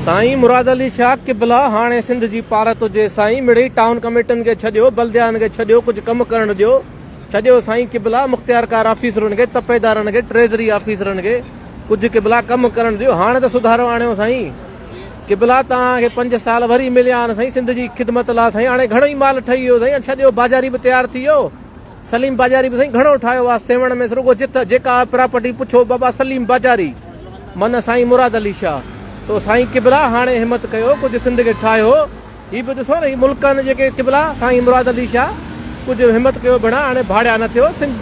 سائين مراد علي شاهه قبلا هاڻي سنڌ جي پارت هجي سائين مڙئي ٽائون ڪميٽن کي ڇڏيو بلديائن کي ڇڏيو ڪجهه ڪم ڪرڻ ڏيو ڇڏيو سائين قبلا مختيار ڪار آفيسرن کي تپيدارن کي ٽريزري آفيسرن کي ڪجهه قبلا ڪم ڪرڻ ڏيو هاڻي ته سڌارو آڻيو سائين قبلا توهان کي پنج سال وري مليا آهن سائين سنڌ جي خدمت لا سائين هاڻي گهڻو ئي مال ٺهي ويو سائين ڇڏيو بازاري به تيار ٿي ويو سليم باجاري به سائين گهڻو ٺاهيو آ سيوهڻ ۾ رڳو جت جيڪا آ پراپرٽي پڇو بابا سليم باجاري معنيٰ سائين مراد علي شاهه سو سائين قبلا هاڻي همت ڪيو ڪجهه سنڌ کي ٺاهيو هي به ڏسو نه هي ملڪ آهن جيڪي قبلا سائين مراد علي شاهه ڪجهه همت ڪيو ڀيڻا هاڻي ڀاڙيا نه ٿيو سنڌ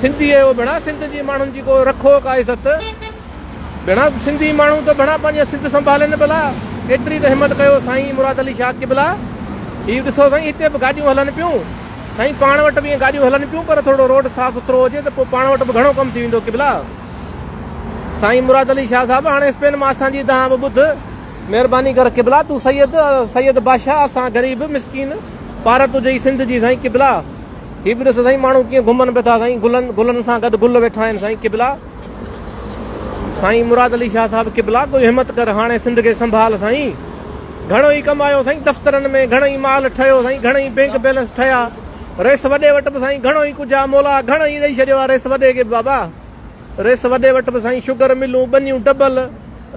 سنڌي اهو ڀيڻا سنڌ جي ماڻهن جي ڪو رکو ڪا عزت. گهڻا سنڌي ماڻهو ته ڀلا پنهنجي سنڌ سنڀالين ڀلا ايتري ته همت ڪيو سائين مراد علي شاهه قبلا هي ڏسو سائين هتي به گاڏيون هلن پيون سائين پاڻ وٽ به ائين گاڏيون هلن پيون پر ٿورڙو روڊ صاف سٿرو هجي ته پوء پاڻ وٽ به گهڻو ڪم ٿي ويندو قبلا سائين مراد علي شاهه صاحب هاڻي اسپين مان اسان جي دانهن به ٻڌ مهرباني ڪر قبلا تون سيد سيد بادشاهه اسان غريب مسڪين پار تجهي ئي سنڌ جي سائين قبلا هي به ڏس سائين ماڻهو ڪيئن گهمن به ٿا سائين گلن گلن سان گڏ گل ويٺا آهن سائين قبلا. سائين مراد علي شاھ صاحب قبلا ڪوئي ھمت ڪر ھاڻي سنڌ کي سنڀال سائين گھڻو ئي ڪم آيو سائين دفترن ۾ گھڻو ئي مال ٺھيو سائين گھڻا ئي بينڪ بيلنس ٺھيا رئيس وڏي وٽ به سائين گھڻو ئي ڪجھ آ مولا گھڻو ئي ڏئي ڇڏيو آ رئيس وڏي کي به بابا رئيس وڏي وٽ به سائين شگر ملون ٻنيون ڊبل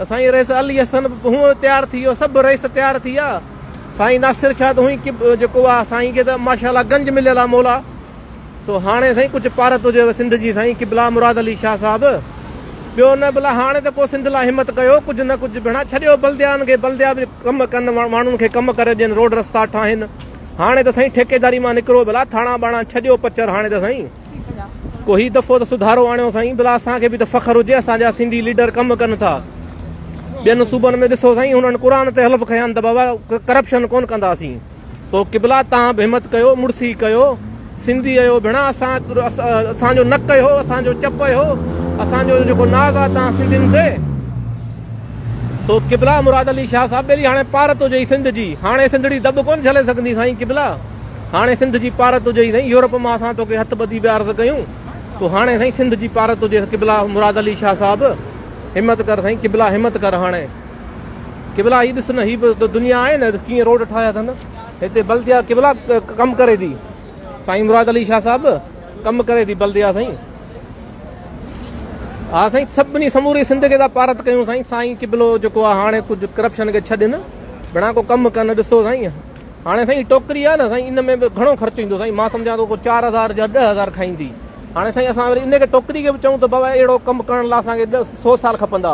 سائين رئيس علي حسن به ھونئن تيار ٿي ويو سڀ رئيس تيار ٿي ويا سائين ناصر شاھ ته ھونئن ئي جيڪو آ سائين کي ته ماشاءالله گنج مليل آ مولا سو هاڻي سائين ڪجهه پارت هجيو سنڌ جي سائين قبلا مراد علي شاهه صاحب ٻيو نه بلا هاڻي ته ڪو سنڌ لا همت ڪيو ڪجهه نه ڪجهه ڀيڻا ڇڏيو بلديان کي بلديا به ڪم ڪن ماڻهن کي ڪم ڪري ڏين روڊ رستا ٺاهين هاڻي ته سائين ٺيڪيداري مان نڪرو بلا ٿاڻا ٻاڻا ڇڏيو پچر هاڻي ته سائين ڪو هي دفعو ته سڌارو آڻيو سائين بلا اسان کي به ته فخر هجي اسان جا سنڌي ليڊر ڪم ڪن ٿا ٻين صوبن ۾ ڏسو سائين هنن قرآن تي حلف کنيا آهن ته بابا ڪرپشن ڪون ڪنداسين سو قبلا تان به همت ڪيو مڙسي ڪيو سنڌي ايو ڀيڻا اسان اسان جو نڪ ايو اسان جو چپ ايو اسان جو جيڪو ناز آ تان سنڌين تي سو قبلا مراد علي شاھ صاحب بيلي هاڻي پارت هجي سنڌ جي هاڻي سنڌڙي دب ڪون جھلي سگندي سائين قبلا هاڻي سنڌ جي پارت هجي سائين يورپ ما اسان تو کي هٿ ٻڌي به عرض ڪيون تو هاڻي سائين سنڌ جي پارت هجي قبلا مراد علي شاھ صاحب همت ڪر سائين قبلا همت ڪر هاڻي قبلا هي ڏس نه هي به دنيا آهي نه ڪيئن روڊ ٺاهيا اٿن هتي بلديا قبلا ڪم ڪري ٿي سائين مراد علي شاهه صاحب ڪم ڪري ٿي بلديا سائين ها سائين سڀني سموري سنڌ کي پارت ڪيون سائين سائين قبلو جيڪو آ هاڻي ڪجهه ڪرپشن کي ڇڏ نه بنا ڪو ڪم ڪن ڏسو سائين هاڻي سائين ٽوڪري آ نه سائين ان ۾ به گهڻو خرچ ايندو سائين مان سمجهان ٿو ڪو 4000 جا 10000 کائيندي هاڻي سائين اسان وري ان کي ٽوڪري کي به چون ته بابا اهڙو ڪم ڪرڻ لاء اسان کي 100 سال کپندا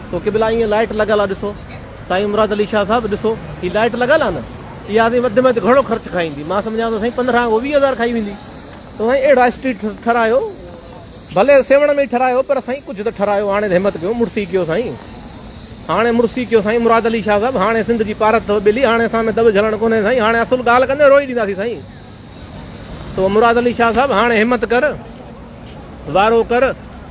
سو قبلا ايئن لائيٽ لڳل آ ڏسو سائين مراد علي شاھ صاحب ڏسو ھي لائيٽ لڳل آ نه اھا سائين وڌ ۾ وڌ گھڻو خرچ کائيندي مان سمجھان ٿو سائين پندرهن کان ويهه ھزار کائي ويندي سو سائين اھڙا اسٽريٽ ٺھرايو ڀلي سيوھڻ ۾ ٺھرايو پر سائين ڪجھ ته ٺھرايو ھاڻي ته ھمت ڪيو مڙسي ڪيو سائين ھاڻي مڙسي ڪيو سائين مراد علي شاھ صاحب ھاڻي سنڌ جي پارت اٿو ٻلي ھاڻي اسان ۾ دٻ جھلڻ ڪونھي سائين ھاڻي اصل ڳالھ ڪندي روئي ڏينداسين سائين تو مراد علي شاھ صاحب ھاڻ ھمت ڪر وارو ڪر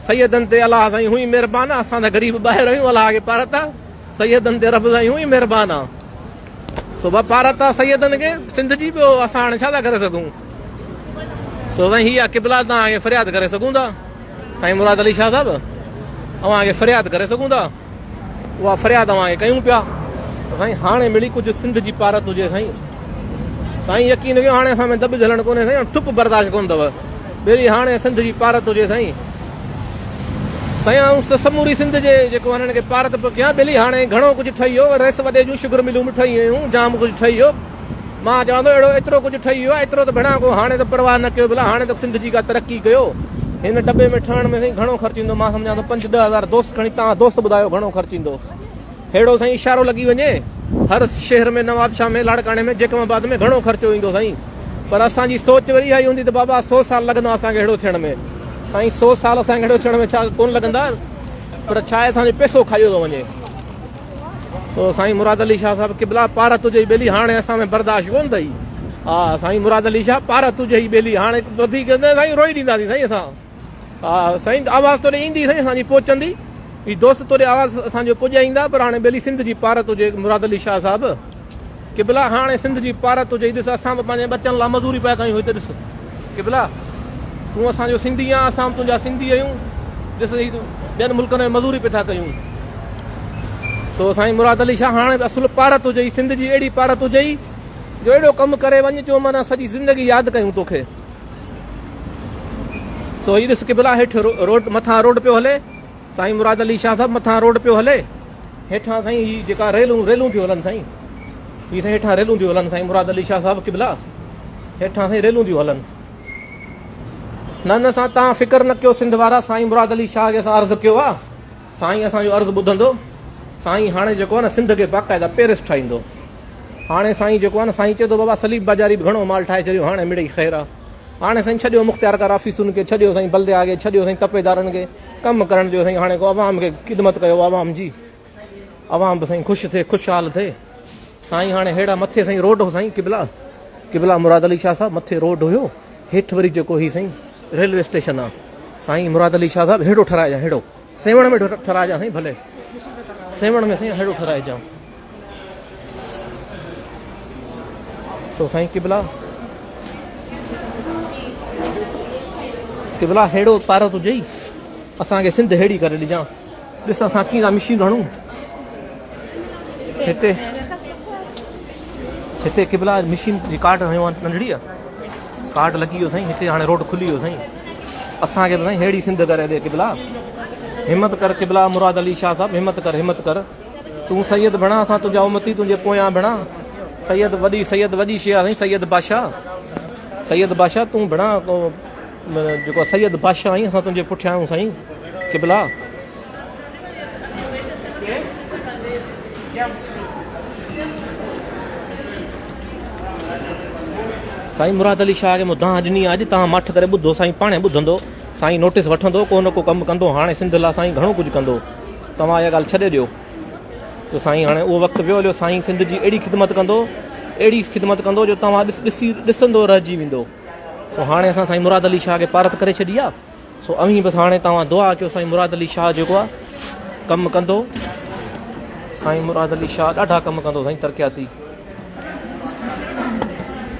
سيدن تي الله سائين ھونئي مھربان آ اسان تھ غريب ٻاھر آھيون الله کي پارت آ سيدن تي رب سائين ھونئي مھربان آ سو وپارت آ سيدن کي سنڌ جي ٻيو اسان ھاڻ ڇا ٿا ڪري سگھون سو سائين ھي آ قبلا تان اھي فرياد ڪري سگھون ٿا سائين مراد علي شاھ صاحب اوھان کي فرياد ڪري سگھون ٿا. اها فرياد اوهان کي ڪيون پيا ته سائين هاڻي مڙئي ڪجهه سنڌ جي پارت هجي سائين سائين يقين ڪيو هاڻي اسان ۾ دٻ جهلڻ ڪونهي سائين هاڻي ٽپ برداشت ڪونه اٿو ٻيلي هاڻي سنڌ جي پارت هجي سائين سائين آئون ته سموري سنڌ جي جيڪو هنن کي پارت پيو ڪيان ٻيلي هاڻي گهڻو ڪجهه ٺهي ويو رئيس وڏي جون شگر ملون به ٺهي ويون جام ڪجهه ٺهي ويو مان چوان ٿو اهڙو ايترو ڪجهه ٺهي ويو آهي ايترو ته ڀيڻا ڪو هاڻي ته پرواهه نه ڪيو ڀلا هاڻي ته سنڌ جي ڪا ترقي ڪيو هن ٽٻي ۾ ٺهڻ ۾ سائين گهڻو خرچ ايندو مان سمجهان ٿو پنج ڏهه هزار دوست کڻي تان دوست ٻڌايو گهڻو خرچ ايندو ههڙو سائين اشارو لڳي وڃي هر شهر ۾ نوابشاهه ۾ لاڙڪاڻي ۾ جيڪم آباد ۾ گهڻو خرچو ايندو سائين پر اسان جي سوچ وري اها ئي هوندي ته بابا سو سال لڳندا اسان کي اهڙو ٿيڻ ۾ سائين سو سال اسان کي اهڙو ٿيڻ ۾ ڇا ڪون لڳندا پر ڇا اسان جو پيسو کايو ٿو وڃي سو سائين مراد علي شاهه صاحب قبلا پار تجهي ئي ٻيلي هاڻي اسان ۾ برداشت ڪون ٿئي ها سائين مراد علي شاهه پار تجهي ئي ٻيلي هاڻي وڌيڪ سائين روئي ڏيندا سي سائين اسان ها سائين آواز توري ايندي سائين اسان جي پهچندي هي دوست توري آواز اسان جو پڄائيندا پر هاڻي ٻيلي سنڌ جي پار تجهي مراد علي شاهه صاحب قبلا هاڻي سنڌ جي پارت هجئي ڏس اسان به پنهنجي ٻچن لا مزوري پيا ڪيون هتي ڏس قبلا تون اسان جو سنڌي آن اسان به تنهنجا سنڌي آهيون ڏس هي ٻين ملڪن ۾ مزوري پي ٿا ڪيون سو سائين مراد علي شاهه هاڻي اصل پارت هجئي سنڌ جي اهڙي پارت هجئي جو اهڙو ڪم ڪري وڃ جو مانا سڄي زندگي ياد ڪيون توکي سو هي ڏس قبلا هيٺ روڊ مٿان روڊ پيو هلي سائين مراد علي شاھ صاحب مٿان روڊ پيو ھلي ھيٺان سائين ھي جيڪا ريلون ريلون ٿيون ھلن سائين ھي سائين ھيٺان ريلون ٿيون ھلن سائين مراد علي شاھ صاحب قبلا ھيٺان سائين ريلون ٿيون ھلن نه نه سان تان فڪر نه ڪيو سنڌ وارا سائين مراد علي شاھ جي سان عرض ڪيو آ سائين اسان جو عرض ٻڌندو سائين هاڻي جيڪو آ نه سنڌ کي باقاعده پيرس ٺاهيندو هاڻي سائين جيڪو آ نه سائين چي ٿو بابا سليب بازاري به گهڻو مال ٺاهي ڇڏيو هاڻي مڙئي خير آ هاڻي سائين ڇڏيو مختيار ڪار آفيسن کي ڇڏيو سائين بلديا کي ڇڏيو سائين تپيدارن کي ڪم ڪرڻ جو سائين هاڻي ڪو عوام کي خدمت ڪيو عوام جي عوام به سائين خوش ٿئي خوشحال ٿئي سائين هاڻي هيڙا مٿي سائين روڊ هو سائين قبلا قبلا مراد علي شاهه صاحب مٿي روڊ هيو هيٺ وري جيڪو هي سائين ريلوي اسٽيشن آ سائين مراد علي شاهه صاحب هيڙو ٺهرائجا هيڙو سيوڻ ۾ ٺهرائجا سائين ڀلي سيوڻ ۾ سائين هيڙو ٺهرائجا سو سائين قبلا قبلا هيڙو تارو تو جي اسان کي سنڌ هيڙي ڪري ڏجا ڏس اسان ڪي لا مشين رهڻو هتي هتي قبلا مشين جي ڪارڊ هيو ان ننڙي ڪارڊ لڳي ويو سائين هتي هاڻي روڊ کلي ويو سائين اسان کي سائين هيڙي سنڌ ڪري ڏي قبلا همت ڪر قبلا مراد علي شاهه صاحب همت ڪر همت ڪر تون سيد بڻا اسان تنهنجا امتي تنهنجي پويان بڻا سيد وڏي سيد وڏي شي آهي سيد بادشاهه سيد بادشاهه تون بڻا جيڪو سيد بادشاهه آهين اسان تنهنجي پٺيان آهيون سائين قبلا سائين مراد علي شاهه کي مون دانهن ڏني آج تان مٺ ڪري ٻڌو سائين پاڻي ٻڌندو سائين نوٽيس وٺندو ڪو نه ڪو ڪم ڪندو هاڻي سنڌ لا سائين گهڻو ڪجهه ڪندو توهان اها ڳالهه ڇڏي ڏيو جو سائين هاڻي اهو وقت ويو هليو سائين سنڌ جي اهڙي خدمت ڪندو اهڙي خدمت ڪندو جو توهان ڏس ڏسي ڏسندو رهجي ويندو سو هاڻي اسان سائين مراد علي شاهه کي پارت ڪري ڇڏي آ سو اوهين بس هاڻي توهان دعا ڪيو سائين مراد علي شاهه جيڪو آ ڪم ڪندو سائين مراد علي شاهه ڏاڍا ڪم ڪندو سائين ترقياتي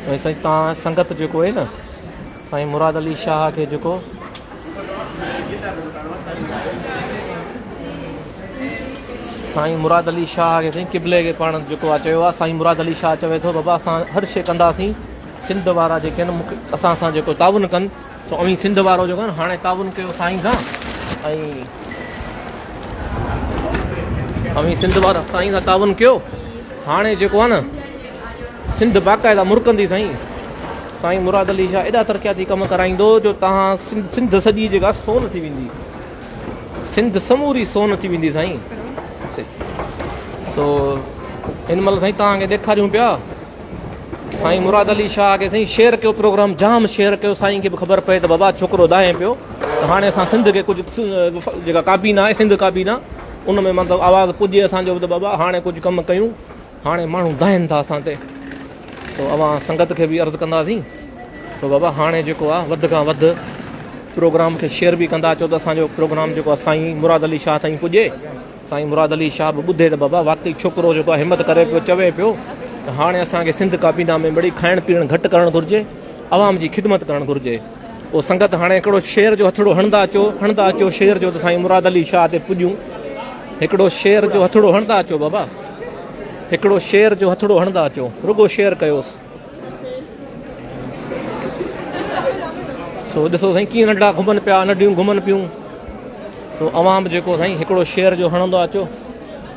سائين سائين توهان سنگت جيڪو آهي نه سائين مراد علي شاهه کي جهڪو. سائين مراد علي شاهه کي سائين قبلي کي پاڻ جهڪو آ چيو آ سائين مراد علي شاهه چوي ٿو بابا اسان هر شي ڪنداسين سنڌ وارا جيڪي آهن اسان سان جيڪو تعاون ڪن سو اوهين سنڌ وارو جيڪو آهن هاڻي تعاون ڪيو سائين سان ۽ اوهين سنڌ وارا سائين سان تعاون ڪيو هاڻي جيڪو آ نه سنڌ باقاعده مرڪندي سائين. سائين مراد علي شاهه ايڏا ترقياتي ڪم ڪرائيندو جو تهان سنڌ سڄي جيڪا سون ٿي ويندي سنڌ سموري سون ٿي ويندي سائين سو هن مل سائين تهان کي ڏيکاريون پيا سائين مراد علي شاهه کي سائين شيئر ڪيو پروگرام جام شيئر ڪيو سائين کي به خبر پئي ته بابا ڇوڪرو دائين پيو ته هاڻي اسان سنڌ کي ڪجهه جيڪا ڪابينا آهي سنڌ ڪابينا ان ۾ مطلب آواز پڄي اسان جو ته بابا هاڻي ڪجهه ڪم ڪيون هاڻي ماڻهو دانهن ٿا اسان تي سو اوهان سنگت کي به عرض ڪنداسين سو بابا هاڻي جيڪو آهي وڌ کان وڌ پروگرام کي شيئر به ڪندا اچو ته اسانجو پروگرام جيڪو آهي سائين مراد علي شاهه تائين پڄي سائين مراد علي شاهه به ٻڌي ته بابا واقعي ڇوڪرو جيڪو آهي همت ڪري پيو چوي پيو ته هاڻي اسانکي سنڌ ڪابينا ۾ مڙي کائڻ پيئڻ گهٽ ڪرڻ گهرجي عوام جي خدمت ڪرڻ گهرجي او سنگت هاڻي هڪڙو شعر جو هٿڙو هڻندا اچو هڻندا اچو شعر جو ته سائين مراد علي شاهه تي پڄون هڪڙو شعر جو هٿڙو هڻندا اچو بابا هڪڙو شعر جو هٿڙو هڻندا اچو رڳو شعر ڪيوس سو ڏسو سائين ڪيئن ننڍا گهمن پيا ننڍيون گهمن پيون سو عوام جيڪو سائين هڪڙو شعر جو هڻندو اچو